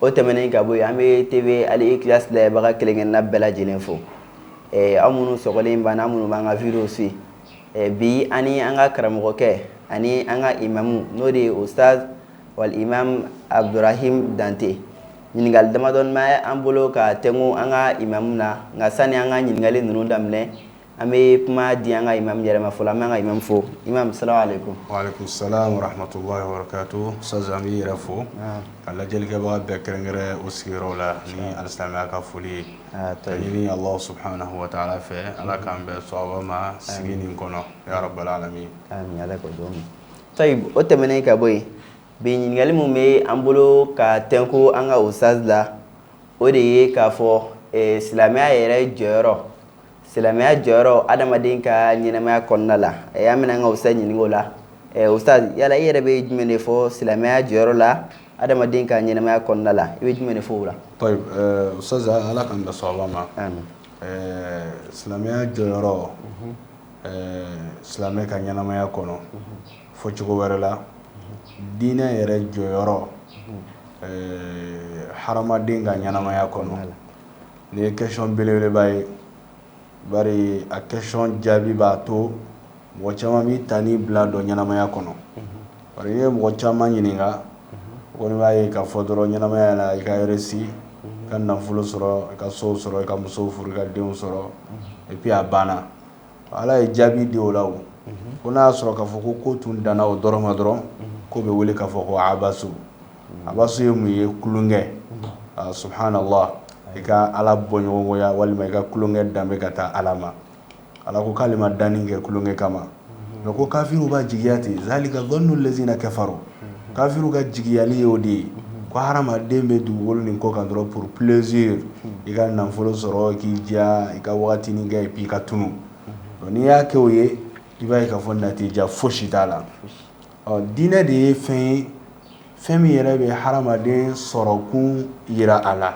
O tɛmɛnen ka bɔ yen an bɛ TV Al Ikhlas lajɛbaga kelen-kelenna bɛɛ lajɛlen fo. Ɛɛ aw minnu sɔgɔlen b'an na, aw minnu b'an ka video suivi. Ɛɛ bi an ni an ka karamɔgɔkɛ ani an ka imamu n'o de ye Ustaz wal imam Abdurahim Dante. Ɲininkali damadɔni bɛ an bolo ka tɛnku an ka imamu na, nka sani an ka ɲininkali ninnu daminɛ, an bɛ kuma di an ka i mami yɛrɛma fɔlɔ an bɛ ka imami fɔ i ma sara ale ko sahamatu sa an bɛ yɛrɛ fɔ ka lajɛlikɛbaga bɛɛ kɛrɛnkɛɛrɛ o sigiyɔrɔ la ni alisamaya ka foli ye ta ɲini waati fɛ ala k'an bɛ so sigi nin kɔnɔ tayi o tɛmɛnen ka bɔ yen bi ɲininkakali minnu bɛ an bolo ka tko an ka o sala o de ye k'a fɔ silamɛya yɛrɛ jɔyɔrɔ silamɛya jɔyɔrɔ adamaden ka ɲɛnamaya kɔnɔna la an bɛna an ka ustaz ɲininka o la ustaz yala i yɛrɛ bɛ jumɛn de fɔ silamɛya jɔyɔrɔ la adamaden ka ɲɛnamaya kɔnɔna la i bɛ jumɛn de fɔ o la tayib ustaz ala k'an da sawaba ma amin silamɛya jɔyɔrɔ silamɛ ka ɲɛnamaya kɔnɔ fɔ cogo wɛrɛ la diinɛ yɛrɛ jɔyɔrɔ hadamaden ka ɲɛnamaya kɔnɔ la Nin ye question belebeleba ye bari a question jaabi b'a to mɔgɔ caman b'i ta ni bila dɔn ɲɛnamaya kɔnɔ bari n'i ye mɔgɔ caman ɲininka u kɔni b'a ye k'a fɔ dɔrɔn ɲɛnamaya la i ka réussir i ka nafolo sɔrɔ i ka so sɔrɔ i ka muso furu i ka denw sɔrɔ et puis a banna ala ye jaabi di o la o ko n'a y'a sɔrɔ k'a fɔ ko ko tun danna o dɔrɔn ma dɔrɔn k'o bɛ wele k'a fɔ ko abasu abasu ye mun ye tulonkɛ subhanallah i ka ala bɔɲɔgɔnya walima i ka tulonkɛ danbe ka taa ala ma ala ko k'ale ma danni kɛ tulonkɛ kama nka ko kafiriw b'a jigiya ten zalika zannu lazina kafaru kafiriw ka jigiyali ye o de ye ko hadamaden bɛ dugukolo nin kɔ kan dɔrɔn pour plaisir i ka nafolo sɔrɔ k'i diya i ka waati nin kɛ puis i ka tunun n'i y'a kɛ o ye i b'a ye k'a fɔ natija fosi t'a la ɔ diinɛ de ye fɛn ye fɛn min yɛrɛ bɛ hadamaden sɔrɔkun jira a la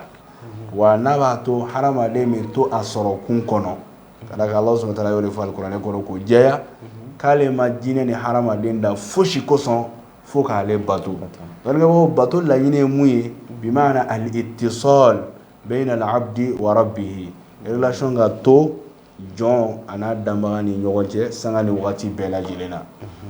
wa n'a b'a to hadamaden bɛ to a sɔrɔkun kɔnɔ ka d'a kan Alahu subahana wataala y'o de fɔ alikuranɛ kɔnɔ k'o jɛya, k'ale ma jinɛ ni hadamaden dan fosi kosɔn fo k'ale bato, danbaga bato laɲini ye mun ye bi maana al ittisal bayna al abdi wa rabbih relation ka to jɔn an'a danbaga ni ɲɔgɔn cɛ sanga ni waati bɛɛ lajɛlen na,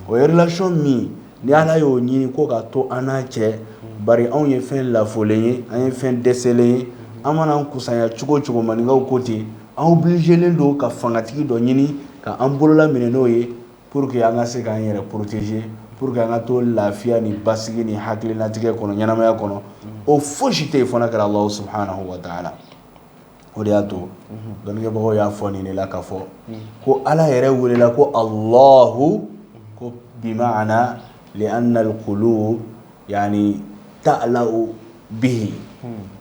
o ye relation min ni Ala y'o ɲini k'o ka to an n'a cɛ bari anw ye fɛn lafulen ye, an ye fɛn dɛsɛlen ye, an mana an kusaya cogo o cogo maninkaw ko ten an obligélen don ka fangatigi dɔ ɲini ka an bolola minɛ n'o ye pour que an ka se k'an yɛrɛ protéger pour que an ka to lafiya ni basigi ni hakililatigɛ kɔnɔ ɲɛnamaya kɔnɔ o foyi si tɛ yen fo n'a kɛra ala subhanahu wa ta'ala o de y'a to dɔnnikɛbagaw y'a fɔ nin de la ka fɔ ko ala yɛrɛ welela ko allahu ko bi ma'ana li anna l qulub yani ta'lahu bihi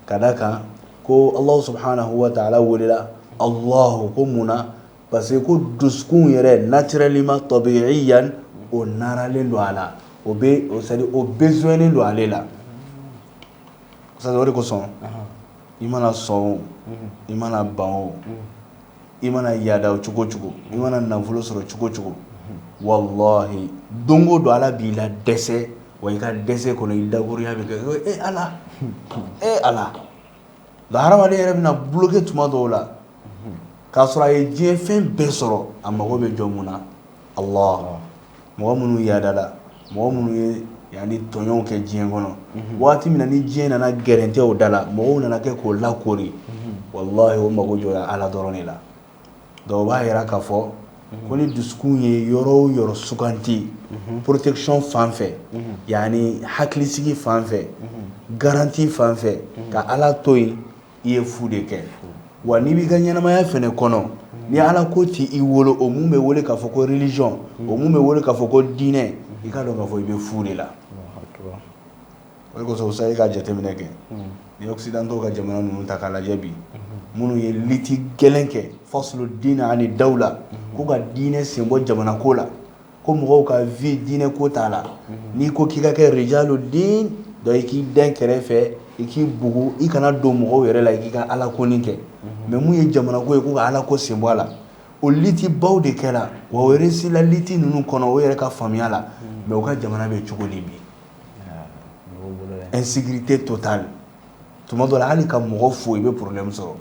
k'a da a kan ko ala subhanahu wa ta'ala welela allahu ko mun na parce que ko dusukun yɛrɛ naturellement tabi'iyan o naralen don a la o bɛ o sari o besoinlen don ale la sa o de kosɔn i mana sɔn o i mana ban o i mana yaada cogo o cogo i mana nafolo sɔrɔ cogo o cogo wallahi don dɔ ala b'i ladɛsɛ wa i ka dɛsɛ kɔnɔ i dakurunɲa bɛ kɛ e ala e ala nka hadamaden yɛrɛ bɛna bloquer tuma dɔw la k'a sɔrɔ a ye diɲɛ fɛn bɛɛ sɔrɔ a mago bɛ jɔ mun na ala mɔgɔ minnu yaadala mɔgɔ minnu ye yani tɔɲɔw kɛ diɲɛ kɔnɔ waati min na ni diɲɛ nana gɛrɛntɛ o da la mɔgɔw nana kɛ k'o lakori wallahi o mago jɔra ala dɔrɔn de la donc o b'a jira ka fɔ ko ni dusukun ye yɔrɔ o yɔrɔ suganti protection fan fɛ yani hakilisigi fan fɛ garanti fan fɛ ka ala to yen i ye fu de kɛ wa n'i b'i ka ɲɛnamaya fana kɔnɔ ni ala ko t'i bolo o min bɛ wele k'a fɔ ko religion o min bɛ wele k'a fɔ ko diinɛ i k'a dɔn k'a fɔ i bɛ fu de la o de kosɔn sa e ka jateminɛ kɛ ni occidentaux ka jamana ninnu ta k'a lajɛ bi minnu ye liti gɛlɛn kɛ faslu diin ani dawla ko ka diinɛ sen bɔ jamana ko la ko mɔgɔw ka vie diinɛ ko t'a la n'i ko k'i ka kɛ rijalu diin dɔ i k'i dɛn kɛrɛfɛ i k'i bugu i kana don mɔgɔw yɛrɛ la i k'i ka ala ko kɛ mais min ye jamana ko ye ko ka ala ko sen bɔ a la o liti baw de kɛra wa o réussila liti ninnu kɔnɔ o yɛrɛ ka faamuya la mais u ka jamana bɛ cogo di bi e si tɛ to tan tuma dɔ hali ka mɔgɔ fo i bɛ porolenmi sɔrɔ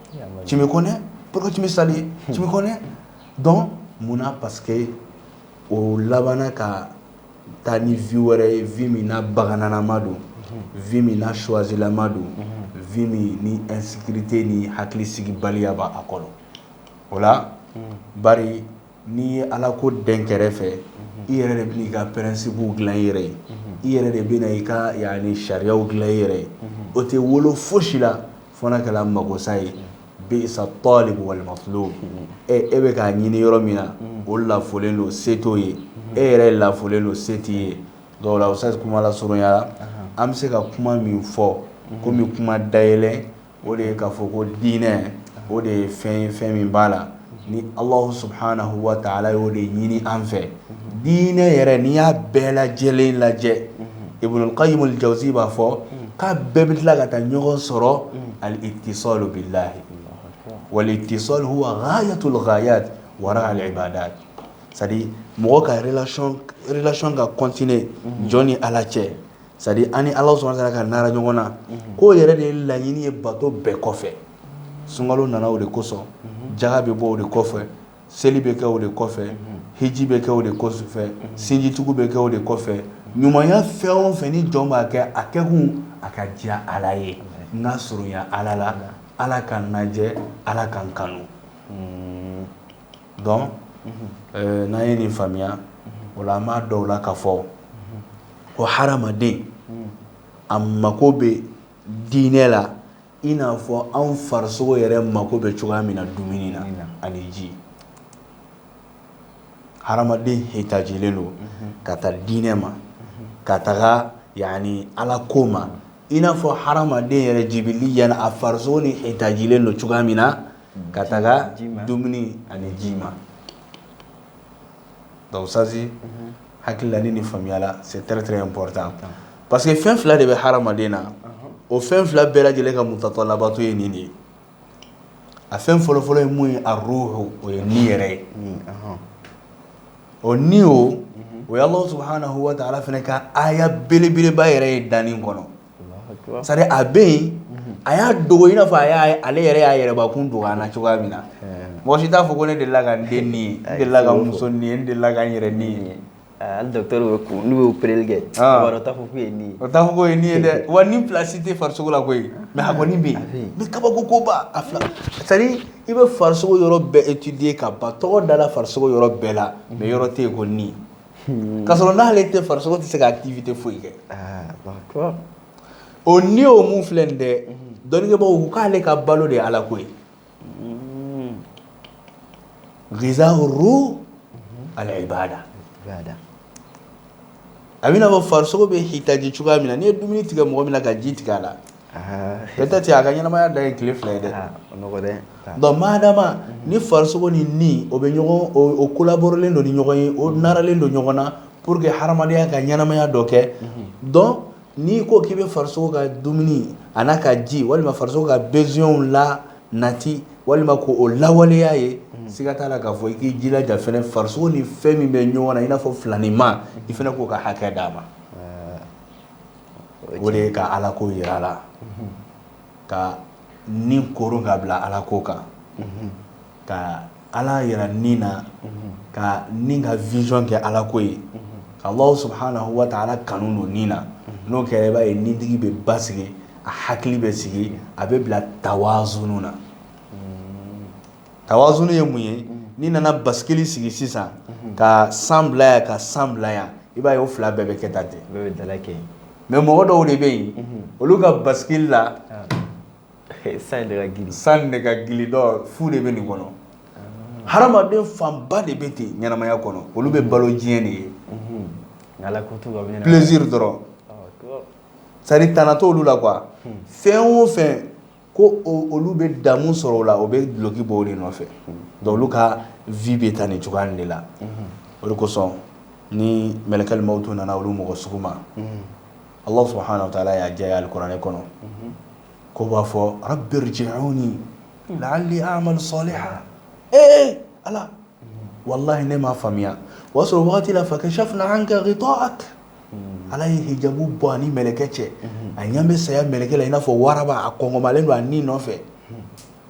ti kɔnɛmi sa kɔnɛ dɔn munna pa que o labanana ka taa ni v wɛrɛ ye v min bagananama don v min suwazlama don v ni e site ni hakili sigi baliyaba a kɔrɔ o la ba N'i ye ala ko dɛn kɛrɛfɛ i yɛrɛ de bɛna i ka principew dilan i yɛrɛ ye i yɛrɛ de bɛna i ka yani sariyaw dilan i yɛrɛ ye o tɛ wolo foyi si la fo n'a kɛra magosa ye bisa talib wal matlub e bɛ k'a ɲinin yɔrɔ min na o lafolen don se t'o ye e yɛrɛ ye lafolen don se t'i ye sa kuma lasurunya la an bɛ se ka kuma min fɔ komi kuma dayɛlɛ o de ye k'a fɔ ko diinɛ o de ye fɛn ye fɛn min b'a la ni Alahu subahanahu wataala y'o de ɲini an fɛ diinɛ yɛrɛ n'i y'a bɛɛ lajɛlen lajɛ Ibunu kayimul jawuzi b'a fɔ k'a bɛɛ bɛ tila ka taa ɲɔgɔn sɔrɔ al itisɔlu bilaahi wal itisɔlu huwa gaayatul gaayaati wara al ibaadaati c'est à dire mɔgɔ ka relation relation ka continuer jɔn ni Ala cɛ c'est à dire a ni ala subahanahu wataala ka nara ɲɔgɔn na k'o yɛrɛ de ye laɲini ye bato bɛɛ kɔfɛ sunkalo nana o de kosɔn jaka bɛ bɔ o de kɔfɛ seli bɛ kɛ o de kɔfɛ hiji bɛ kɛ o de kɔfɛ sinjitugu bɛ kɛ o de kɔfɛ ɲumanya fɛn o fɛn ni jɔn b'a kɛ a kɛkun a ka diya ala ye n ka surunya ala la ala ka n lajɛ ala ka n kanu donc n'an ye nin faamuya o la an b'a dɔn o la k'a fɔ ko hadamaden a mako bɛ diinɛ la i n'a fɔ anw farisogo yɛrɛ mako bɛ cogoya min na dumuni na ani ji hadamaden hitajilen don ka taa diinɛ ma ka taga yaani ala ko ma i n'a fɔ hadamaden yɛrɛ jibiliyan a farisogo ni hitajilen don cogoya min na ka taga dumuni ani ji ma donc ça c'est hakilila ni faamuya la c'est très très important parce que fɛn fila de bɛ hadamaden na o fɛn fila bɛɛ lajɛlen ka mutatalabaatu ye nin de ye a fɛn fɔlɔfɔlɔ ye mun ye aruuhu o ye ni yɛrɛ ye o ni o o ye Alahu subahanahu wataala fana ka aya belebeleba yɛrɛ ye danni kɔnɔ a bɛ yen a y'a dogo i n'a fɔ ale yɛrɛ y'a yɛrɛbakun dogo an na cogoya min na mɔgɔ si t'a fɔ ko ne delila ka n den ni ye n delila ka n muso ni ye n delila ka n yɛrɛ ni ye hali docteur bɛ kun n'u y'o opereli kɛ o t'a fɔ k'o ye ni ye o t'a fɔ k'o ye ni ye dɛ wa ni place tɛ farisogo la koyi mais a kɔni bɛ yen mais kabako koba a filɛ c'est à dire i bɛ farisogo yɔrɔ bɛɛ étudier ka ban tɔgɔ dala farisogo yɔrɔ bɛɛ la mais yɔrɔ tɛ yen ko ni Hmm. Ka sɔrɔ n'ale tɛ farisogo tɛ se ka activité foyi kɛ. Ah, Alahu akibaru. O ni o mun filɛ nin dɛ, unhun, dɔnnikɛbagaw ko k'ale ka balo de ye Ala ko ye. Unhun. Ghizaahu ruuh al-ibaada. Ibaada. A bɛ i n'a fɔ farisogo bɛ hitaji cogoya min na, n'i ye dumuni tigɛ mɔgɔ min na ka ji tigɛ a la peut-être a ka ɲɛnamaya da ye tile fila ye dɛ madama ni farisogo ni ni o bɛ ɲɔgɔn o collaborelen don ni ɲɔgɔn ye o naralen don ɲɔgɔn na pour que hadamadenya ka ɲɛnamaya dɔ kɛ donc n'i ko k'i bɛ farisogo ka dumuni a n'a ka ji walima farisogo ka besoinw la nati walima ko o lawaleya ye siga t'a la k'a fɔ i k'i jilaja farisogo ni fɛn min bɛ ɲɔgɔn na i n'a fɔ filaninma i fana k'o ka hakɛ d'a ma o de ye ka ala ko yira a la ka ni koron ka bila ala ko kan ka ala yira ni na ka ni ka vision kɛ ala ko ye ka ala subhanahu wa ta'ala kanu don ni na n'o kɛra i b'a ye nitigi bɛ basigi a hakili bɛ sigi a bɛ bila tawazunu na Tawazunu ye mun ye n'i nana basikili sigi sisan ka san bila yan ka san bila yan i b'a ye o fila bɛɛ bɛ kɛ tan ten mais mɔgɔ dɔw de bɛ yen olu ka basikili la san san de ka gili dɔ fu de bɛ nin kɔnɔ hadamaden fanba de bɛ ten ɲɛnamaya kɔnɔ olu bɛ balo diɲɛ de ye plaisir dɔrɔn c'est-à-dire tana t'olu la quoi fɛn o fɛn ko olu bɛ damu sɔrɔ o la o bɛ duloki bɔ o de nɔfɛ donc olu ka vie bɛ taa nin cogoya de la o de kosɔn ni mɛlɛkɛl mawtu nana olu mɔgɔ sugu ma ala subhanahu wa ta'ala y'a jɛya alikuranɛ kɔnɔ ko b'a fɔ rabbi irji'uni la'alli a'malu salihan ee ala wallahi ne m'a faamuya o y'a sɔrɔ waati la fakashafna anka ghita'ak Ala ye hijabu bɔ a ni mɛlɛkɛ cɛ a ɲa bɛ saya mɛlɛkɛ la i n'a fɔ waraba a kɔngɔmalen don a ni nɔfɛ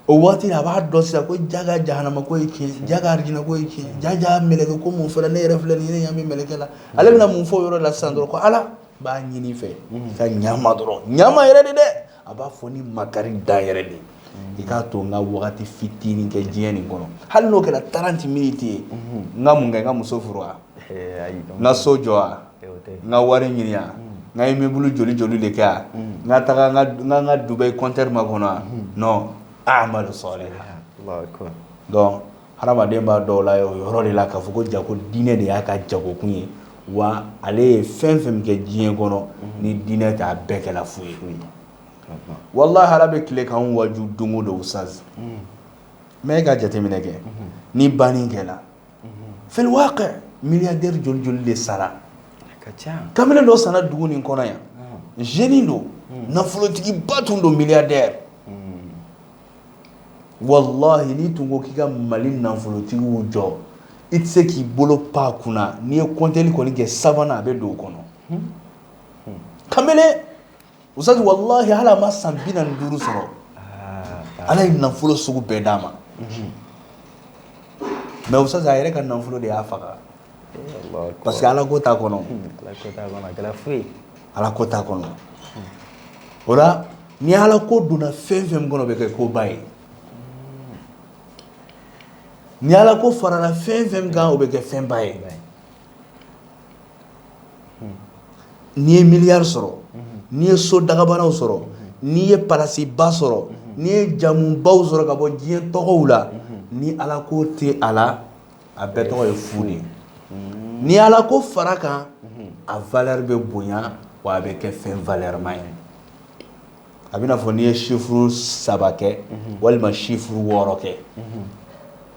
o waati a b'a dɔn sisan ko jaga jahanama ko ye tiɲɛ jaga arijinɛ ko ye tiɲɛ jaga mɛlɛkɛ ko mun fɔla ne yɛrɛ filɛ nin n ɲa bɛ mɛlɛkɛ la ale bɛna mun fɔ o yɔrɔ la sisan dɔrɔn ko ala n b'a ɲini i fɛ ka ɲa n ma dɔrɔn ɲa n ma yɛrɛ de dɛ a b'a fɔ ni makari dan yɛrɛ de i k'a to n ka wagati fitinin kɛ diɲɛ nin kɔnɔ hali n'o kɛra trente minutes ye n ka mun kɛ n ka muso furu wa n ka so jɔ wa n ka wari ɲini wa n ka immeuble joli joli de kɛ wa n ka taga n ka Dubai conteneur makɔnɔ wa non a'malu salihan donc Hadamaden b'a dɔn la ye o yɔrɔ de la k'a fɔ ko ja ko diinɛ de y'a ka jagokun ye wa ale ye fɛn fɛn min kɛ diɲɛ kɔnɔ ni diinɛ tɛ a bɛɛ kɛla fu ye wallahi ala bɛ tile k'an waju don o don ustaz mais e ka jateminɛ kɛ ni banni kɛla fil waqi milliardaire joli joli de sara kamalen dɔ sara dugu nin kɔnɔ yan jeune don nafolotigiba tun don milliardaire wallahi n'i tun ko k'i ka mali nafolotigiw jɔ i tɛ se k'i bolo pan a kunna n'i ye kɔnteli kɔni kɛ sabanan a bɛ don o kɔnɔ kamalen ustaz wallahi hali a ma san bi naani ni duuru sɔrɔ ala ye nafolo sugu bɛɛ d'a ma mais ustaz a yɛrɛ ka nafolo de y'a faga parce que Ala ko t'a kɔnɔ, Ala ko t'a kɔnɔ, o la ni Ala ko donna fɛn o fɛn min kɔnɔ o bɛ kɛ koba ye, ni Ala ko farala fɛn o fɛn min kan o bɛ kɛ fɛnba ye, n'i ye miliyari sɔrɔ, n'i ye so dagabanaw sɔrɔ, n'i ye palasiba sɔrɔ, n'i ye jamubaw sɔrɔ ka bɔ diɲɛ tɔgɔw la ni Ala ko tɛ a la a bɛɛ tɔgɔ ye fu de ye ni ala ko fara kan a valeur bɛ bonya wa a bɛ kɛ fɛn valeurma ye a b'i n'a fɔ n'i ye sifuru saba kɛ walima sifuru wɔɔrɔ kɛ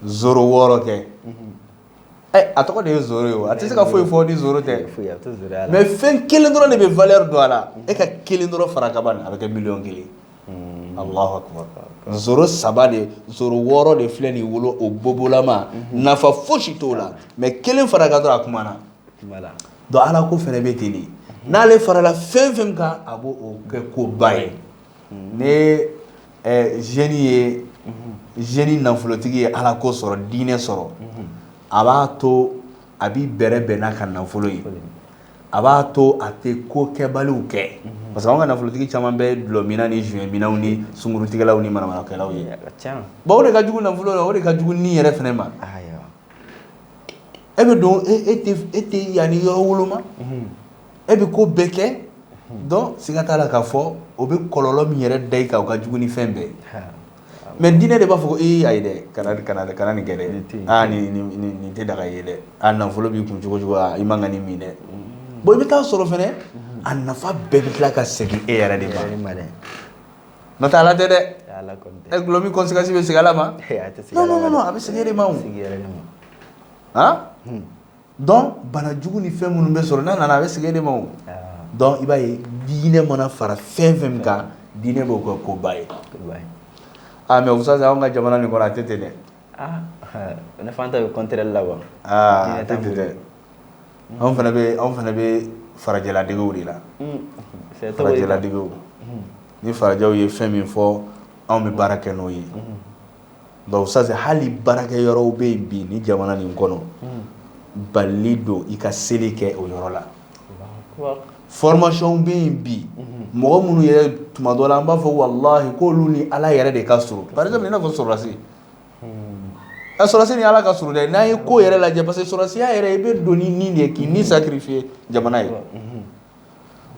zéro wɔɔrɔ kɛ a tɔgɔ de ye zéro ye a tɛ se ka foyi fɔ ni zéro tɛ mais fɛn kelen dɔrɔn de bɛ valeur don a la e ka kelen dɔrɔn fara ka ban a bɛ kɛ miliyɔn kelen saba de zéro wɔɔrɔ de filɛ nin wolo o bobolama nafa fosi t'o la mais kelen fara a kan dɔrɔn a kumana donc ala ko fɛnɛ bɛ ten de n'ale farala fɛn fɛn kan a b'o kɛ koba ye ni jeune ye jeune nafolotigi ye ala ko sɔrɔ diinɛ sɔrɔ a b'a to a b'i bɛrɛ bɛn n'a ka nafolo ye a b'a to a tɛ ko kɛbaliw kɛ parce que an ka nafolotigi caman bɛ dulɔmina ni joint minaw ni sunkurutigɛlaw ni manamanakɛlaw ye bon o de ka jugu nafolo la o de ka jugu ni yɛrɛ fɛnɛ ma e bɛ don e tɛ yaani yɔrɔ woloma e bɛ ko bɛɛ kɛ donc siga t'a la k'a fɔ o bɛ kɔlɔlɔ min yɛrɛ da i kan o ka jugu ni fɛn bɛɛ mais diinɛ de b'a fɔ ko ayi dɛ kana nin kɛ dɛ nin tɛ daga ye dɛ a nafolo b'i kun cogo cogo i man ka nin min dɛ bon i bɛ taa sɔrɔ fɛnɛ a nafa bɛɛ bɛ tila ka segin e yɛrɛ de ma n'o tɛ ala tɛ dɛ dulɔmin conséquence bɛ segin ala ma non a bɛ segin e de ma donc bana jugu ni fɛn minnu bɛ sɔrɔ n'a nana a bɛ segin e de ma donc i b'a ye diinɛ mana fara fɛn fɛn min kan diinɛ b'o kɛ koba ye mais ustaz an ka jamana nin kɔnɔ a tɛ ten dɛ ne fan ta bɛ contraire la wa a tɛ ten dɛ anw fana bɛ anw fana bɛ farajɛladegew de la farajɛladege ni farajɛw ye fɛn min fɔ anw bɛ baara kɛ n'o ye donc ustaz hali baarakɛ yɔrɔw bɛ yen bi ni jamana nin kɔnɔ bali don i ka seli kɛ o yɔrɔ la formation bɛ yen bi mɔgɔ minnu yɛrɛ tuma dɔ la an b'a fɔ wallahi k'olu ni ala yɛrɛ de ka surun par exemple i n'a fɔ sɔrɔdasi a sɔrɔdasi ni ala ka surun dɛ n'an ye ko yɛrɛ lajɛ parce que sɔrɔdasiya yɛrɛ i bɛ don ni nin de ye k'i ni sacrifier jamana ye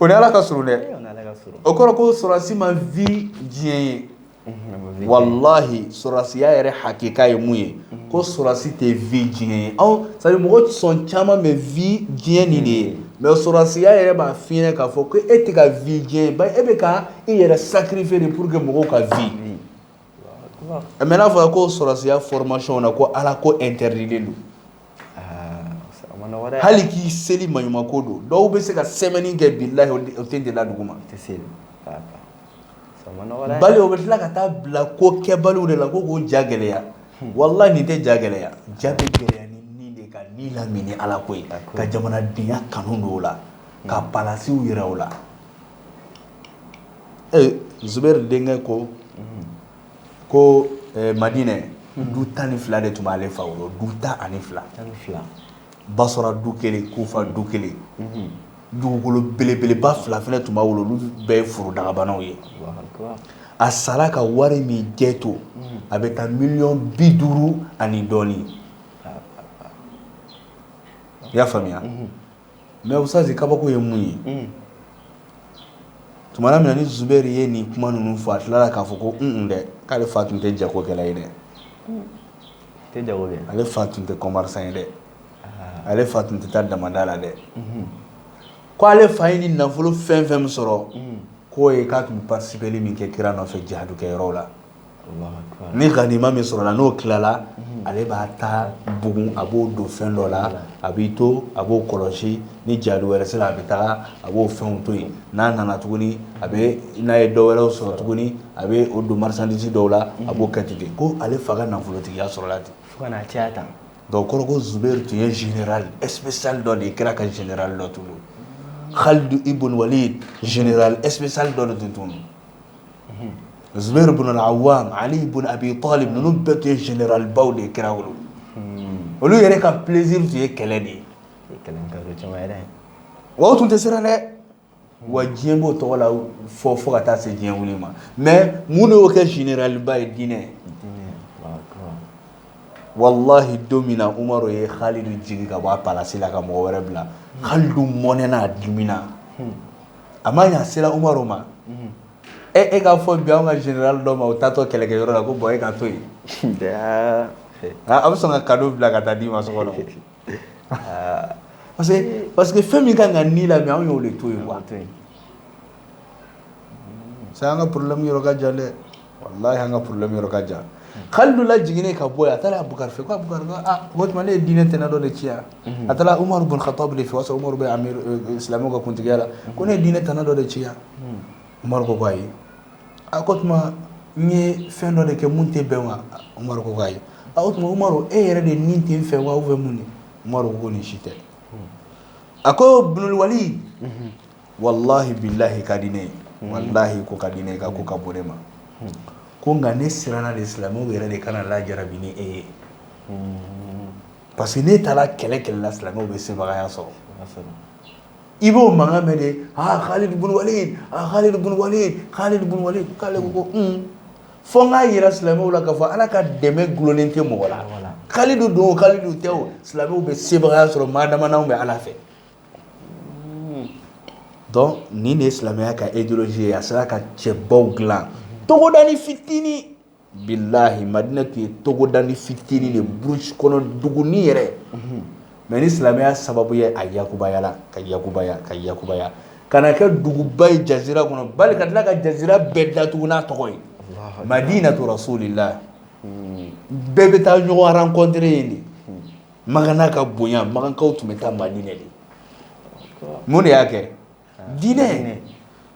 O ni ala ka surun dɛ o kɔrɔ ko sɔrɔdasi ma vie diɲɛ ye walahi sɔrɔdasiya yɛrɛ hakika ye mun ye ko sɔrɔdasi tɛ vie diɲɛ ye anw c'est à dire mɔgɔ sɔn caman bɛ vie diɲɛ nin de ye mais sɔrɔdasiya yɛrɛ b'a f'i ɲɛna k'a fɔ ko e tɛ ka vie diɲɛ ye ba e bɛ ka i yɛrɛ sacrifier de pour que mɔgɔw ka vie mais n'a fɔra ko sɔrɔdasiya formationw na ko ala ko interdilen don hali k'i seli maɲumako don dɔw bɛ se ka semaine kɛ billahi o tenda la dugu ma bali o bɛ tila ka taa bila ko kɛbaliw de la ko k'o ja gɛlɛya walahi nin tɛ ja gɛlɛya ja bɛ gɛlɛya ni de ka ni lamini ala ko ye ka jamanadenya kanu don o la ka palasiw jira u la zubairu denkɛ ko ko madinɛ du tan ni fila de tun b'ale fa wolo du tan ani fila basra du kelen kufa du kelen dugukolo belebeleba fila fana tun b'a wolo olu bɛɛ ye foro dakabanaw ye a sara ka wari min jɛ to a bɛ taa miliyɔn bi duuru ani dɔɔnin i y'a faamuya mais ustazi kabako ye mun ye tuma min ni zubairu ye nin kuma ninnu fɔ a tilala k'a fɔ ko kun dɛ k'ale fa tun tɛ jagokɛla ye dɛ ale fa tun tɛ commerçant ye dɛ ale fa tun tɛ taa damada la dɛ ko ale fa ye ni nafolo fɛn fɛn min sɔrɔ k'o ye k'a tun participeli min kɛ kira nɔfɛ jihadu kɛ yɔrɔ la ni ganima min sɔrɔ la n'o tilala ale b'a ta bugun a b'o don fɛn dɔ la a b'i to a b'o kɔlɔsi ni jihadu wɛrɛ sera a bɛ taa a b'o fɛn to yen n'a nana tuguni a bɛ n'a ye dɔw wɛrɛ sɔrɔ tuguni a bɛ o don marchandise dɔw la a b'o kɛ ten ko ale fa ka nafolotigiya sɔrɔla ten fo ka n'a caya tan donc kɔrɔ ko zubairu tun ye général spécial dɔ de ye kira ka général dɔ tun don halidu ibn walid général spécial dɔ de tun don zubairu bin al-awwam ali bin abi talib ninnu bɛɛ tun ye généralbaw de ye kira wolo olu yɛrɛ ka plaisir tun ye kɛlɛ de ye o tun tɛ siran dɛ wa diɲɛ b'o tɔgɔ la fɔ fo ka taa se diɲɛ wili ma mais mun de y'o kɛ généralba ye diinɛ walahi don min na umaru ye halidu jigin ka bɔ a palasi la ka mɔgɔ wɛrɛ bila halidu mɔnɛna a dimina a ma sera umaru ma e e k'a fɔ bi anw ka général dɔ ma o taatɔ kɛlɛkɛ yɔrɔ la ko bon e ka to yen a bɛ sɔn ka cadeau bila ka taa d'i ma so kɔnɔ parce que fɛn min ka kan ni la bi anw y'o de to yen quoi c'est an ka problème yɔrɔ ka jan dɛ wallahi an ka problème yɔrɔ ka jan Khalidu lajiginnen ka bɔ yen, a taara Abubakari fɛ ko Abubakari ko aa o tuma ne ye diinɛ tana dɔ de ci yan, a taara Umaru bun Khattabu de fɛ, o y'a sɔrɔ Umaru bɛ amiru silamɛw ka kuntigiya la, ko ne ye diinɛ tana dɔ de ci yan, Umaru ko ayi, a ko o tuma n ye fɛn dɔ de kɛ min tɛ bɛn wa? Umaru ko ayi, a o tuma Umaru e yɛrɛ de ni tɛ n fɛ wa ou bien mun de? Umaru ko nin si tɛ, a ko Ibnul Wali walahi bilahi ka di ne ye walahi ko ka di ne ye ka ko ka bon ne ma ko nka ne siranna de silamɛw yɛrɛ de kana lajarabi ni e ye parce que n'e taara kɛlɛ kɛlɛ la silamɛw bɛ sebagaya sɔrɔ i b'o mankan mɛn de aa Khalid bun Walid aa Khalid bun Walid Khalid bun Walid k'ale ko ko un fo n k'a yira silamɛw la k'a fɔ Ala ka dɛmɛ gulonnen tɛ mɔgɔ la Khalidu don o Khalidu tɛ o silamɛw bɛ sebagaya sɔrɔ maa dama n'anw bɛ Ala fɛ Nin de ye silamɛya ka idéologie ye a sera ka cɛbaw dilan togodanin fitinin bilahi Madina tun ye togodanin fitinin de burusi kɔnɔ dugunin yɛrɛ mais ni silamɛya sababu ye a yakubayala ka yakubaya ka yakubaya ka na kɛ duguba ye jazira kɔnɔ bali ka tila ka jazira bɛɛ datugun n'a tɔgɔ ye Madinatu Rasulillah bɛɛ bɛ taa ɲɔgɔn rencontrer yen de Makan n'a ka bonya Makankaw tun bɛ taa Madinɛ de mun de y'a kɛ diinɛ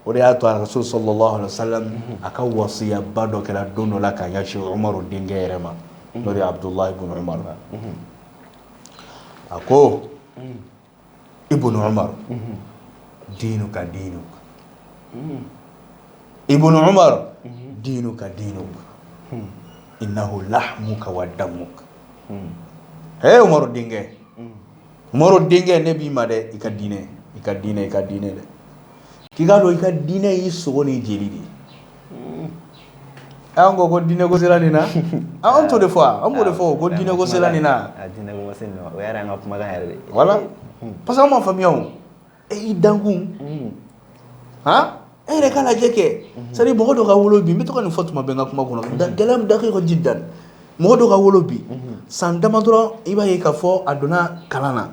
o de y'a to a Rasul sallallahu alaihi wasallam a ka wasiya ba dɔ kɛra don dɔ la ka ɲɛsin Umaru denkɛ yɛrɛ ma n'o de ye Abdullah ibn Umar a ko Ibn Umar diinuka diinuka Ibn Umar diinuka diinuka innahu lahmuka wa damuka Umaru denkɛ Umaru denkɛ ne b'i ma dɛ i ka diinɛ i ka diinɛ i ka diinɛ dɛ k'i k'a dɔn i ka diinɛ y'i sogo ni jeli de ye an ko ko diinɛ ko sera nin na an t'o de fɔ an b'o de fɔ ko diinɛ ko sera nin na voilà parce que an m'a faamuya e y'i dankun hɔn e yɛrɛ k'a lajɛ kɛ c'est à dire mɔgɔ dɔ ka wolo bi n bɛ to ka nin fɔ tuma bɛɛ n ka kuma kɔnɔ gɛlɛn bɛ daqiqa jiddan mɔgɔ dɔ ka wolo bi san dama dɔrɔn i b'a ye k'a fɔ a donna kalan na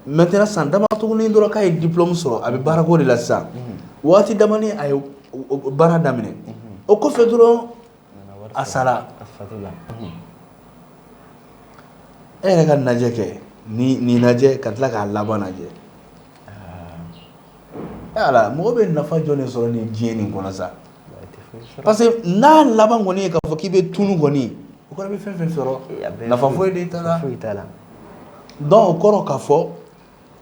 maintenant san dama tuguni dɔrɔn k'a ye diplôme sɔrɔ a bɛ baarako de la sisan waati dama a ye baara daminɛ o kɔfɛ dɔrɔn a sara e yɛrɛ k'a lajɛ kɛ nin lajɛ ka tila k'a laban lajɛ ala mɔgɔ bɛ nafa jɔn de sɔrɔ ni diɲɛ nin kɔnɔ sa parce que n'a laban kɔni ye k'a fɔ k'i bɛ tunu kɔni o kɔrɔ i bɛ fɛn fɛn sɔrɔ nafa foyi t'a la donc o kɔrɔ k'a fɔ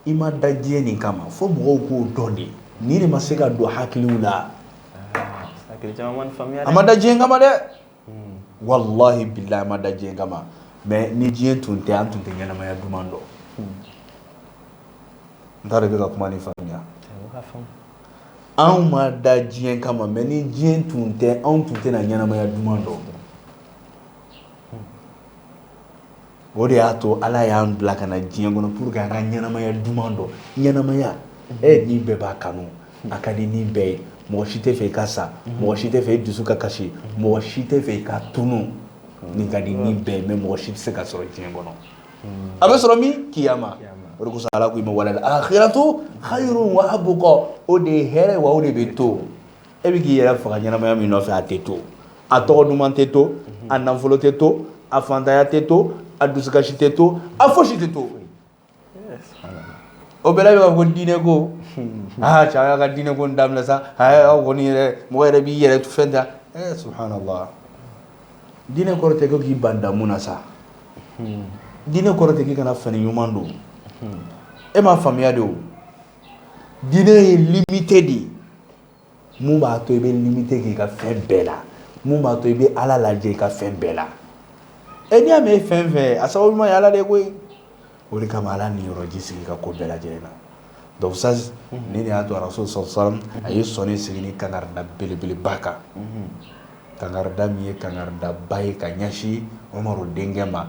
I ma da diɲɛ nin kama fo mɔgɔw k'o dɔn de nin de ma se ka don hakiliw la a ma da diɲɛ kama dɛ walahi bilahi a ma da diɲɛ kama mɛ ni diɲɛ tun tɛ an tun tɛ ɲɛnamaya duman dɔn n t'a dɔn i bɛ ka kuma nin faamuya anw ma da diɲɛ kama mɛ ni diɲɛ tun tɛ anw tun tɛ ɲɛnamaya duman dɔn o de y'a to ala y'an bila ka na diɲɛ kɔnɔ pour que an ka ɲɛnamaya duman dɔn ɲɛnamaya e ni bɛɛ b'a kanu a ka di ni bɛɛ ye mɔgɔ si tɛ fɛ i ka sa mɔgɔ si tɛ fɛ i dusu ka kasi mɔgɔ si tɛ fɛ i ka tunu nin ka di ni bɛɛ ye mɛ mɔgɔ si tɛ se ka sɔrɔ diɲɛ kɔnɔ a bɛ sɔrɔ min kiyama o de ala k'i ma wal akhiratu khayrun wa abqa o de ye hɛrɛ wa o de bɛ to e bɛ k'i yɛrɛ faga ɲɛnamaya min nɔfɛ a tɛ to a tɔgɔ duman tɛ to a nafolo tɛ to a fantanya tɛ to a dusukasi tɛ to a fosi tɛ to o bɛɛ la bɛ ka fɔ diinɛ ko aa cɛ a y'a ka diinɛ ko daminɛ sa aw kɔni yɛrɛ mɔgɔ yɛrɛ b'i yɛrɛ fɛn ta subhanallah diinɛ kɔrɔ tɛ ko k'i ban damu na sa diinɛ kɔrɔ tɛ k'i kana fini ɲuman don e m'a faamuya de Diinɛ ye limite de ye mun b'a to i bɛ limite k'i ka fɛn bɛɛ la mun b'a to i bɛ ala lajɛ i ka fɛn bɛɛ la e n'i y'a mɛn e fɛn fɛn a sababu ɲuman ye ala de ye koyi o de kama ala niyɔrɔ ji sigi ka ko bɛɛ lajɛlen na donc ça nin de y'a to rasul sallam a ye sɔɔni sigi ni kangarida belebeleba kan kangarida min ye kangaridaba ye ka ɲɛsin umaru denkɛ ma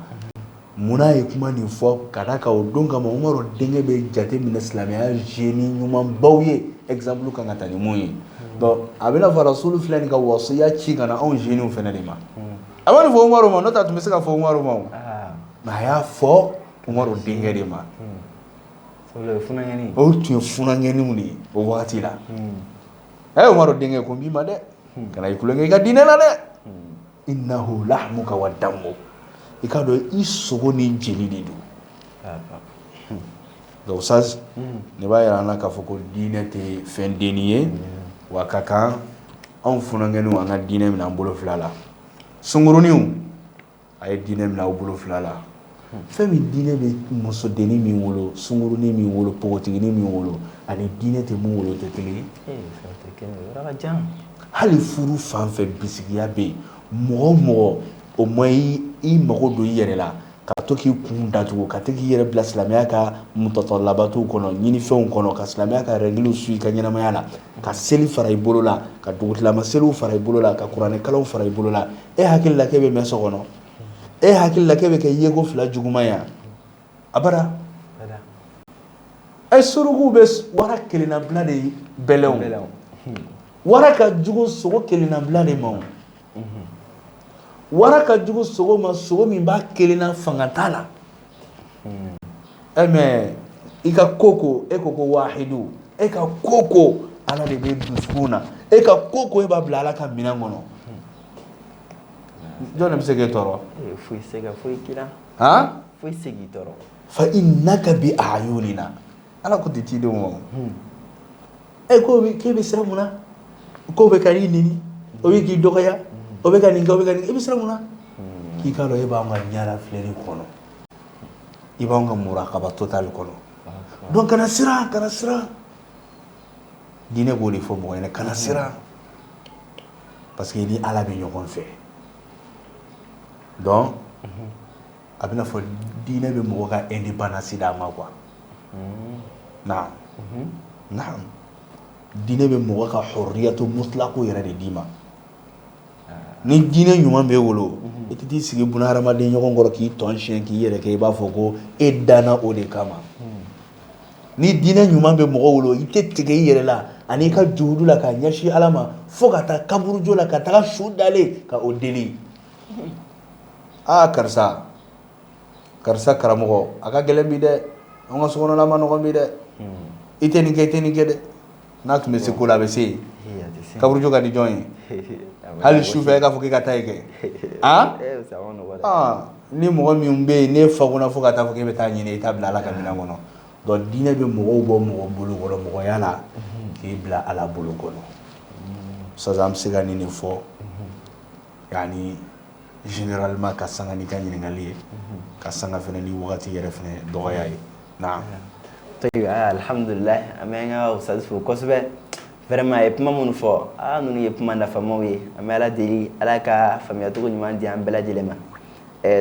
munna ye kuma nin fɔ ka da kan o don kama umaru denkɛ bɛ jate minɛ silamɛya jeunes ɲumanbaw ye exemple kan ka taa ni min ye a bɛna fɔ rasul filɛ nin ka wasiya ci ka na anw jeunes fana de ma a ma nin fɔ umaru ma n'o tɛ a tun bɛ se ka fɔ umaru ma nka a y'a fɔ umaru denkɛ de ma o tun ye funankɛninw de ye o waati la e umaru denkɛ ko n b'i ma dɛ kana i tulonkɛ i ka diinɛ la dɛ innahu lahmuka wa damuk i k'a dɔn i sogo ni jeli de don donc ça nin b'a jira an na k'a fɔ ko diinɛ tɛ fɛn dennin ye wa a ka kan anw funankɛninw an ka diinɛ minɛ an bolo fila la sunguruninw A ye diinɛ minɛ aw bolo fila la fɛn min diinɛ bɛ musodennin min wolo sungurunin min wolo npogotiginin min wolo ani diinɛ tɛ min wolo tɛ kelen ye hali furu fan fɛ bisigiya bɛ yen mɔgɔ o mɔgɔ o ma i mago don i yɛrɛ la ka to k'i kun datugu ka to k'i yɛrɛ bila silamɛya ka mutatallabatuw kɔnɔ ɲinifɛnw kɔnɔ ka silamɛya ka rɛgiliw su i ka ɲɛnamaya la ka seli fara i bolo la ka dugutilama seliw fara i bolo la ka kuranɛ kalanw fara i bolo la e hakili la k'e bɛ mɛn so kɔnɔ e hakili la k'e bɛ kɛ yeko fila juguman ye abada e surukuw bɛ wara kelenna bila de bɛlɛn wara ka jugu sogo kelenna bila de ma wara ka jugu sogo ma sogo min b'a kelenna fanga t'a la mais i ka ko ko e ko ko wahidu e ka ko ko ala de bɛ dusukun na e ka ko ko e b'a bila ala ka minɛn kɔnɔ jɔn de bɛ se k'e tɔɔrɔ foyi se ka foyi k'i la han foyi se k'i tɔɔrɔ fa innaka bi ayunina ala ko ten cidenw ma e ko k'i bɛ siran mun na k'o bɛ ka i neni o bɛ k'i dɔgɔya o bɛ ka nin kɛ kɛ i bɛ siran mun na k'i k'a dɔn e b'an ka ɲɛna filɛli kɔnɔ i b'an ka murakaba totali kɔnɔ donc kana siran kana siran diinɛ b'o de fɔ mɔgɔ ɲɛna kana siran parce que i ni ala bɛ ɲɔgɔn fɛ donc a bɛna fɔ diinɛ bɛ mɔgɔ ka indépendance d'a ma quoi diinɛ bɛ mɔgɔ ka huriyatu mutulaku yɛrɛ de d'i ma ni diinɛ ɲuman b'e bolo i tɛ t'i sigi buna hadamaden ɲɔgɔn kɔrɔ k'i tɔn si k'i yɛrɛ kɛ i b'a fɔ ko e danna o de kama ni diinɛ ɲuman bɛ mɔgɔ bolo i tɛ tigɛ i yɛrɛ la ani' ka juhudu la ka ɲɛsin ala ma fo ka taa kaburujo la ka taa su dalen ka o deli aa karisa karisa karamɔgɔ a ka gɛlɛn bi dɛ an ka sokɔnɔna man nɔgɔn bi dɛ i tɛ nin kɛ i tɛ nin kɛ dɛ n'a tun bɛ se ko la a bɛ se yen kaburujo ka di jɔn ye hali sufɛ e k'a fɔ k'i ka taa i kɛ aa ni mɔgɔ min bɛ yen ne fa kunna fo ka taa fɔ k'i bɛ taa ɲini i t'a bila ala ka minɛn kɔnɔ donc diinɛ bɛ mɔgɔw bɔ mɔgɔ bolo kɔrɔ mɔgɔya la k'i bila ala bolo kɔnɔ sisan an bɛ se ka nin de fɔ yani généralement ka sanga ni ka ɲininkali ye ka sanga fana ni waati yɛrɛ fana dɔgɔya ye alihamdulila an bɛ an ka ustaz fo kosɛbɛ vraiment a ye kuma minnu fɔ aa ninnu ye kuma nafamaw ye an bɛ ala deli ala ka faamuyacogo ɲuman di an bɛɛ lajɛlen ma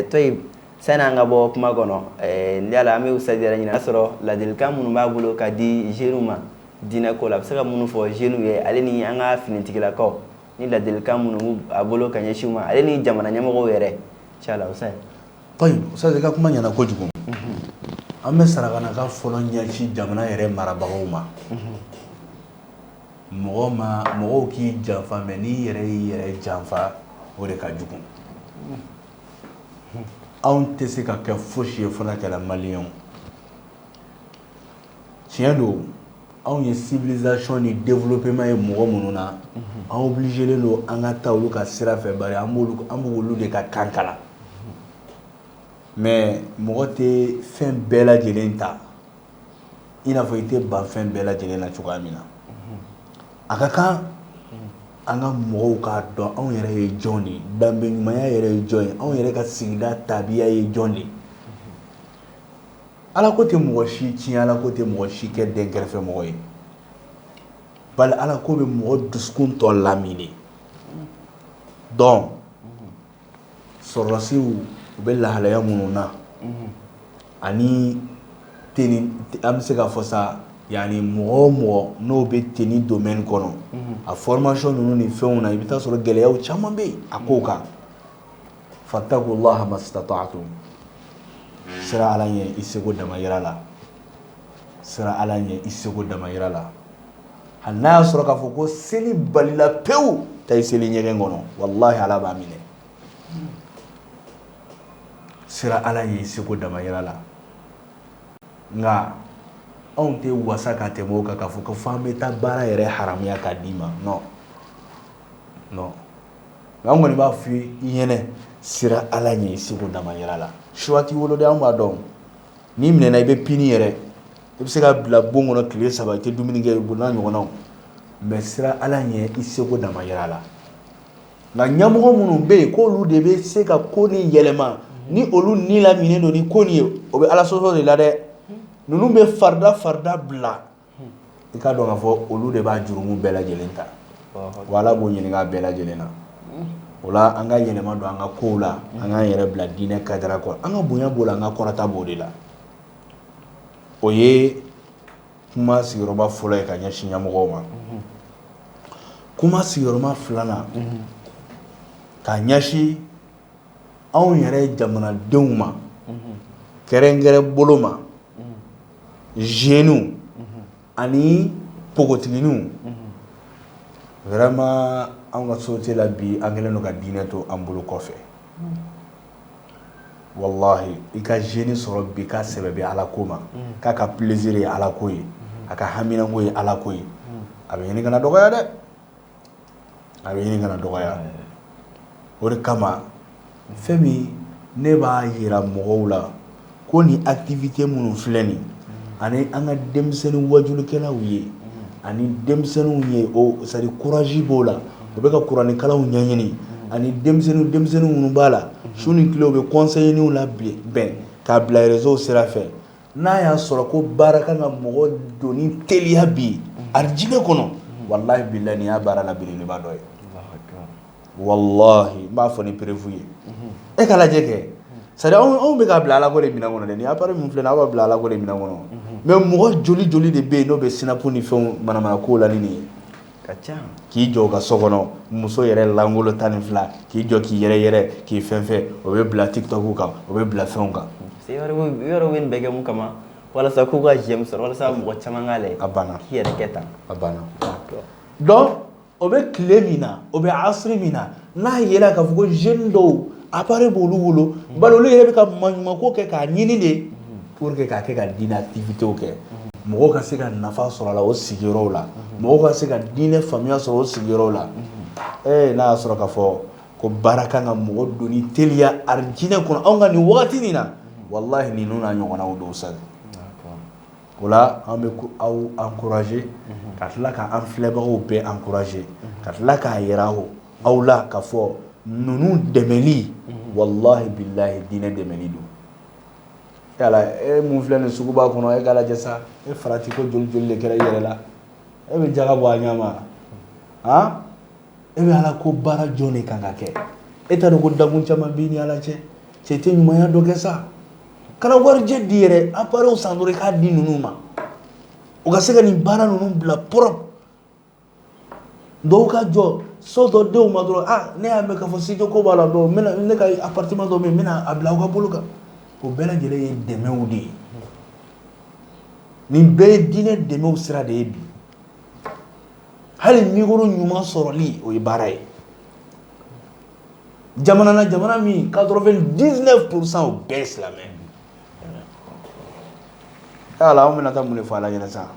tayibu sani an ka bɔ kuma kɔnɔ n yala an bɛ ustaz ɲini y'a sɔrɔ ladilikan minnu b'a bolo ka di jeunes ma diinɛ ko la a bɛ se ka minnu fɔ jeunes ye ale ni an ka finitigilakaw ni ladilikan minnu b'a bolo ka ɲɛsin u ma ale ni jamana ɲɛmɔgɔw yɛrɛ ustaz i ka kuma ɲɛna kojugu an bɛ sarakan fɔlɔ ɲɛsin jamana yɛrɛ marabagaw ma mɔgɔw k'i janfa mais n'i yɛrɛ y'i yɛrɛ janfa o de ka jugu anw tɛ se ka kɛ fosi ye fana kɛla maliyɛnw tiɲɛ don anw ye civilisation ni développement ye mɔgɔ minnu na an obligélen don an ka taa olu ka sira fɛ bari an b'olu de ka kan kalan mais mɔgɔ tɛ fɛn bɛɛ lajɛlen ta i n'a fɔ i tɛ ban fɛn bɛɛ lajɛlen na cogoya min na a ka kan an ka mɔgɔw k'a dɔn anw yɛrɛ ye jɔn de ye danbe ɲumanya yɛrɛ ye jɔn ye anw yɛrɛ ka sigida tabiya ye jɔn de ye Ala ko tɛ mɔgɔ si tiɲɛ ala ko tɛ mɔgɔ si kɛ dɛnkɛrɛfɛ mɔgɔ ye bari ala ko bɛ mɔgɔ dusukun tɔ lamini donc sɔrɔdasiw u bɛ lahalaya minnu na ani an bɛ se k'a fɔ sa yani mɔgɔ o mɔgɔ n'o bɛ tenue domaine kɔnɔ a formation ninnu ni fɛnw na i bɛ t'a sɔrɔ gɛlɛyaw caman bɛ yen a kow kan fattaqullaha mastata'tum sira ala ɲɛ i seko damayira la sira ala ɲɛ i seko damayira la hali n'a y'a sɔrɔ k'a fɔ ko seli balila pewu taa i seli ɲɛgɛn kɔnɔ walahi ala b'a minɛ sira ala ɲɛ i seko damayira la nka anw tɛ wasa ka tɛmɛ o kan k'a fɔ ko f'an bɛ taa baara yɛrɛ haramuya k'a d'i ma non non an kɔni b'a fɔ i ye sira ala ɲɛ i seko damayira la choix t'i bolo dɛ an b'a dɔn n'i minɛna i bɛ puni yɛrɛ i bɛ se ka bila bon kɔnɔ tile saba i tɛ dumuni kɛ o n'a ɲɔgɔnnaw mais sira ala ɲɛ i seko damayira la nka ɲɛmɔgɔ minnu bɛ yen k'olu de bɛ se ka ko nin yɛlɛma ni olu ni lamini don ni ko nin ye o bɛ ala sɔsɔ de la dɛ ninnu bɛ farida farida bila i k'a dɔn k'a fɔ olu de b'a jurumu bɛɛ lajɛlen ta wa ala b'o ɲininka a bɛɛ lajɛlen na o la an ka yɛlɛma don an ka kow la an k'an yɛrɛ bila diinɛ cadre kɔnɔ an ka bonya b'o la an ka kɔrɔta b'o de la o ye kuma sigiyɔrɔma fɔlɔ ye ka ɲɛsin ɲɛmɔgɔw ma kuma sigiyɔrɔma filanan ka ɲɛsin anw yɛrɛ jamanadenw ma kɛrɛnkɛrɛn bolo ma jeunew ani npogotigininw vraiment an ka société la bi an kɛlen don ka diinɛ to an bolo kɔfɛ walahi i ka jeune sɔrɔ bi k'a sɛbɛ bɛ ala ko ma k'a ka plaisir ye alako ye a ka haminako ye alako ye a bɛ ɲini ka na dɔgɔya dɛ a bɛ ɲini ka na dɔgɔya o de kama fɛn min ne b'a yira mɔgɔw la ko ni activité minnu filɛ nin ani an ka denmisɛnnin wajulikɛlaw ye ani denmisɛnninw ye o c'est à dire courage b'o la u bɛ ka kuranɛkalanw ɲɛɲini ani denmisɛnnin denmisɛnnin minnu b'a la su ni tile u bɛ conseilninw labɛn k'a bila réseauw sira fɛ n'a y'a sɔrɔ ko baara kan ka mɔgɔ don ni teliya bi alijinɛ kɔnɔ walahi bilahi nin y'a baara la belebeleba dɔ ye walahi n b'a fɔ ni preuve ye e ka lajɛ kɛ c'est à dire anw bɛ k'a bila alako de minɛn kɔnɔ dɛ nin appareil min filɛ nin ye aw b'a bila alako de minɛn kɔnɔ mais mɔgɔ joli joli de bɛ yen n'o bɛ sinapu ni fɛnw manamana kow la ni nin ye ka ca k'i jɔ ka so kɔnɔ muso yɛrɛ lankolon tan ni fila k'i jɔ k'i yɛrɛ yɛrɛ k'i fɛn fɛ o bɛ bila tiktok kan o bɛ bila fɛnw kan yɔrɔ bɛ nin bɛɛ kɛ mun kama walasa k'u ka j'aime sɔrɔ walasa mɔgɔ caman k'a lajɛ a banna k'i yɛrɛ kɛ tan a banna donc o bɛ tile min na o bɛ asri min na N'a yera k'a fɔ ko jeune dɔw appareil b'olu bolo bari olu yɛrɛ bɛ ka maɲumanko kɛ k'a ɲini de pour que k'a kɛ ka diinɛ activitéw kɛ mɔgɔ ka se ka nafa sɔrɔ a la o sigiyɔrɔ la mɔgɔ ka se ka diinɛ faamuya sɔrɔ o sigiyɔrɔ la ee n'a y'a sɔrɔ k'a fɔ ko baara kan ka mɔgɔ don ni teliya arijinɛ kɔnɔ anw ka nin waati nin na walahi ninnu n'a ɲɔgɔnnaw don sa o la an bɛ aw encourager ka tila k' an filɛbagaw bɛɛ encourager ka tila k'a jira aw la k'a fɔ ninnu dɛmɛli walahi bilahi diinɛ dɛmɛli don e min filɛ nin suguba kɔnɔ e k'a lajɛ sa farati ko joli joli kɛra e yɛrɛ la e bɛ jaka bɔ a ɲɛ ma e bɛ ala ko baara jɔn de kan ka kɛ e t'a dɔn ko danbu caman b'i ni ala cɛ cɛ tɛ ɲumanya dɔ kɛ sa kana warijɛ di yɛrɛ appareilw san dɔrɔn i k'a di ninnu ma u ka se ka nin baara ninnu bila propre dɔw ka jɔ so dɔ di u ma dɔrɔn aa ne y'a mɛn k'a fɔ studio ko b'a la donc ne ka appartement dɔ bɛ yen n bɛna a bila aw ka bolo kan o bɛɛ lajɛlen ye dɛmɛw de ye nin bɛɛ ye diinɛ dɛmɛw sira de ye bi hali micro ɲuman sɔrɔli o ye baara ye jamana na jamana min quatre-vingt-dix-neuf pour cent o bɛɛ ye silamɛ ala an bɛna taa mun de fɔ ala ɲɛna sa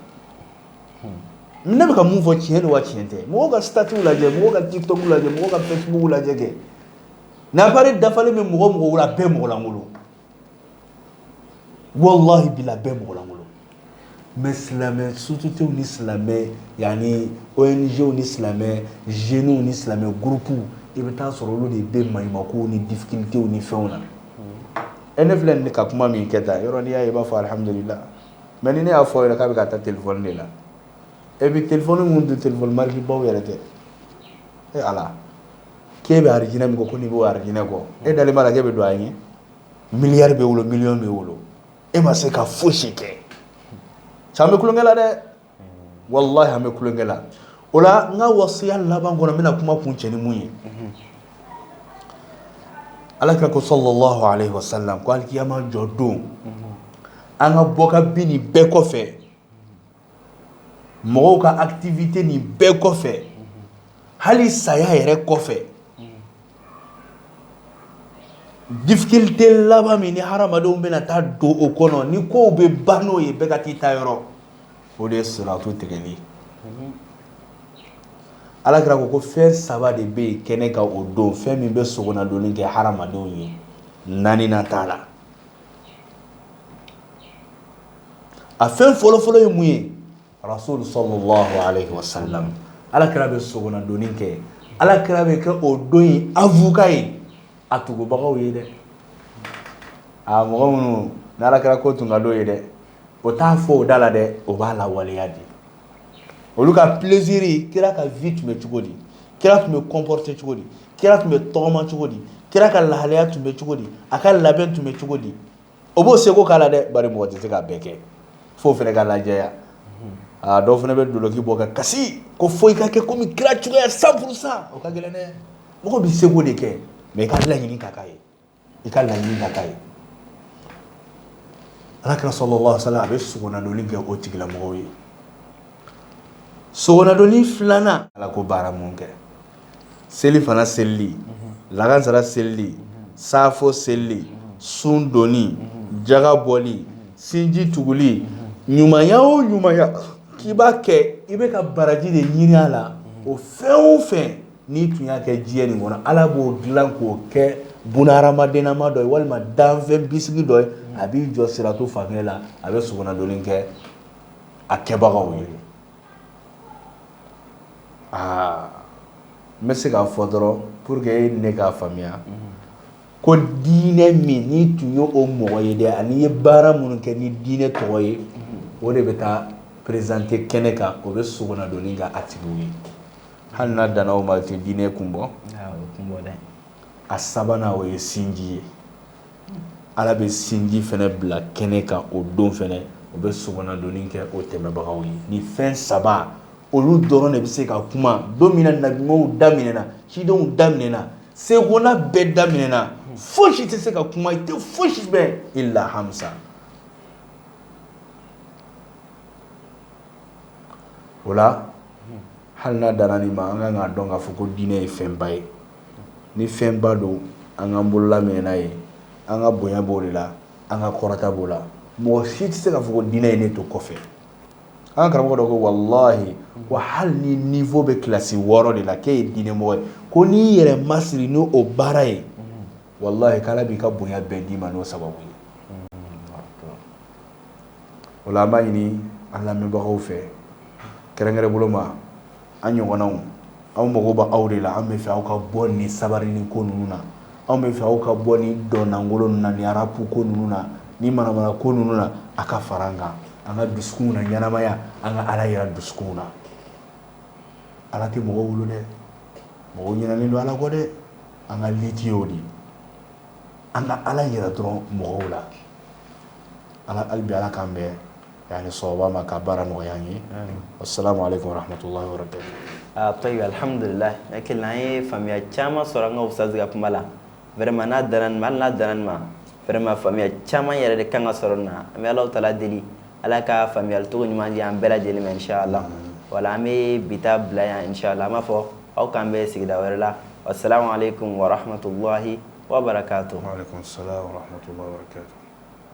ne bɛ ka mun fɔ tiɲɛ don wa tiɲɛ tɛ mɔgɔ ka statut lajɛ mɔgɔ ka tiktok lajɛ mɔgɔ ka facebook lajɛ kɛ n'appareil dafalen bɛ mɔgɔ o mɔgɔ la bɛɛ mɔgɔlankolon walahi bila bɛɛ mɔgɔlankolon mais silamɛ sociétéw ni silamɛ yaani ONGw ni silamɛ jeunew ni silamɛ groupew i bɛ taa sɔrɔ olu de bɛ maɲumankow ni difficultéw ni fɛnw na e ne filɛ nin ka kuma min kɛ tan yɔrɔ n'i y'a ye i b'a fɔ alihamdulila mais ni ne y'a fɔ yɛrɛ k'a bɛ ka taa téléphone de la et puis téléphone minnu tɛ téléphone marque baw yɛrɛ tɛ e ala k'e bɛ arijinɛ min kɔ n'i b'o arijinɛ kɔ e dalen b'a la k'e bɛ don a ɲɛ miliyari b'e bolo miliyɔn b'e bolo e ma se ka fosi kɛ sa an bɛ tulonkɛ la dɛ walahi an bɛ tulonkɛ la o la n ka wasiya laban kɔnɔ n bɛna kuma kuncɛ ni mun ye ala kira ko sallallahu alaihi wasallam ko alkiyama jɔ don an ka bɔ ka bin nin bɛɛ kɔfɛ mɔgɔw ka activité nin bɛɛ kɔfɛ hali saya yɛrɛ kɔfɛ difficulté laban min ni hadamadenw bɛna taa don o kɔnɔ ni kow bɛ ban n'o ye bɛɛ ka t'i taayɔrɔ o de ye siratu tigɛli ala kira ko ko fɛn saba de bɛ yen kɛnɛ kan o don fɛn min bɛ sogonadonni kɛ hadamadenw ye naaninan t'a la a fɛn fɔlɔfɔlɔ ye mun ye rasul sallallahu alaihi wasallam ala kira bɛ sogonadonni kɛ ala kira bɛ kɛ o don in avocat ye a tugubagaw ye dɛ a mɔgɔ minnu n'ala kira ko tun ka d'o ye dɛ o t'a fɔ o da la dɛ o b'a lawaleya de olu ka plaisir kira ka vie tun bɛ cogo di kira tun bɛ comporter cogo di kira tun bɛ tɔgɔma cogo di kira ka lahalaya tun bɛ cogo di a ka labɛn tun bɛ cogo di o b'o seko k'a la dɛ bari mɔgɔ tɛ se k'a bɛɛ kɛ f'o fana ka lajɛya aa dɔw fana bɛ dulɔki bɔ ka kasi ko fo i ka kɛ kɔmi kira cogoyaya cent pour cent o ka gɛlɛn dɛ mɔgɔ bɛ seko de kɛ mais i ka laɲini ka k'a ye i ka laɲini ka k'a ye ala kira sallallahu alaihi wasallam a bɛ sogonadonni kɛ o tigilamɔgɔw ye sogonadonni filanan ala ko baara minnu kɛ selifana selili lagansara selili safo selili sun donni jaga bɔli sinji tuguli ɲumanya o ɲumanya k'i b'a kɛ i bɛ ka baraji de ɲini a la o fɛn o fɛn N'i tun y'a kɛ diɲɛ nin kɔnɔ ala b'o dilan k'o kɛ bunahadamadenama dɔ ye walima danfɛn bisigi dɔ ye a b'i jɔ siratu fan la a bɛ sogonadonni kɛ a kɛbagaw ye aa n bɛ se k'a fɔ dɔrɔn pour que e ni ne k'a faamuya ko diinɛ min n'i tun ye o mɔgɔ ye dɛ an'i ye baara minnu kɛ ni diinɛ tɔgɔ ye o de bɛ taa présenter kɛnɛ kan o bɛ sogonadonni kɛ a tigi ye hali n'a danna o ma o tɛ diinɛ kun bɔ a sabanan o ye sinji ye ala bɛ sinji fana bila kɛnɛ kan o don fana o bɛ sogonadonni kɛ o tɛmɛbagaw ye nin fɛn saba olu dɔrɔn de bɛ se ka kuma don min na nabiɲumanw da minɛna cidenw da minɛna segona bɛɛ da minɛna fosi tɛ se ka kuma i tɛ fosi mɛn illa hamsa o la hali n'a danna nin ma an kan k'a dɔn k'a fɔ ko diinɛ ye fɛnba ye ni fɛnba don an k'an bolola minɛ n'a ye an ka bonya b'o de la an ka kɔrɔta b'o la mɔgɔ si tɛ se k'a fɔ ko diinɛ ye ne to kɔfɛ an karamɔgɔ dɔ ko walahi wa hali n'i niveau bɛ kilasi wɔɔrɔ de la k'e ye diinɛ mɔgɔ ye ko n'i yɛrɛ masiri n'o baara ye walahi k'ala b'i ka bonya bɛɛ d'i ma n'o sababu ye o la an b'a ɲini an lamɛnbagaw fɛ kɛrɛnkɛrɛn bolo ma an ɲɔgɔnnaw anw mago b' aw de la an bɛ fɛ aw ka bɔ ni sabarinin ko ninnu na anw bɛ fɛ aw ka bɔ ni dɔn lankolon na ni rap ko ninnu na ni manamana ko ninnu na a ka fara an kan an ka dusukunw naɲɛnamaya an ka ala yira dusukunw na ala tɛ mɔgɔw bolo dɛ mɔgɔw ɲinɛnen don ala kɔ dɛ an ka liji o de an ka ala yɛrɛ dɔrɔn mɔgɔw la an ka alibi ala k'an bɛɛ yan ni sɔn ma ka baara nɔgɔya ye o sala ale kohamatɔ yɔrɔ tɛ ayi alihamdulila hakili an ye faamuyaya caman sɔrɔ an ka sanse kuma la wɛrɛma n'a da n'a da ma fɛrɛma faamuyaya caman yɛrɛ de kan ka sɔrɔ na an bɛ ala ta deli Ala ka faamuyalicogo ɲuman di an bɛɛ lajɛlen ma inshallah wala an bɛ bi ta bila yan inshallah an b'a fɔ aw k'an bɛn sigida wɛrɛ la wa salamu alaikum warahmatullahi wabarakatuh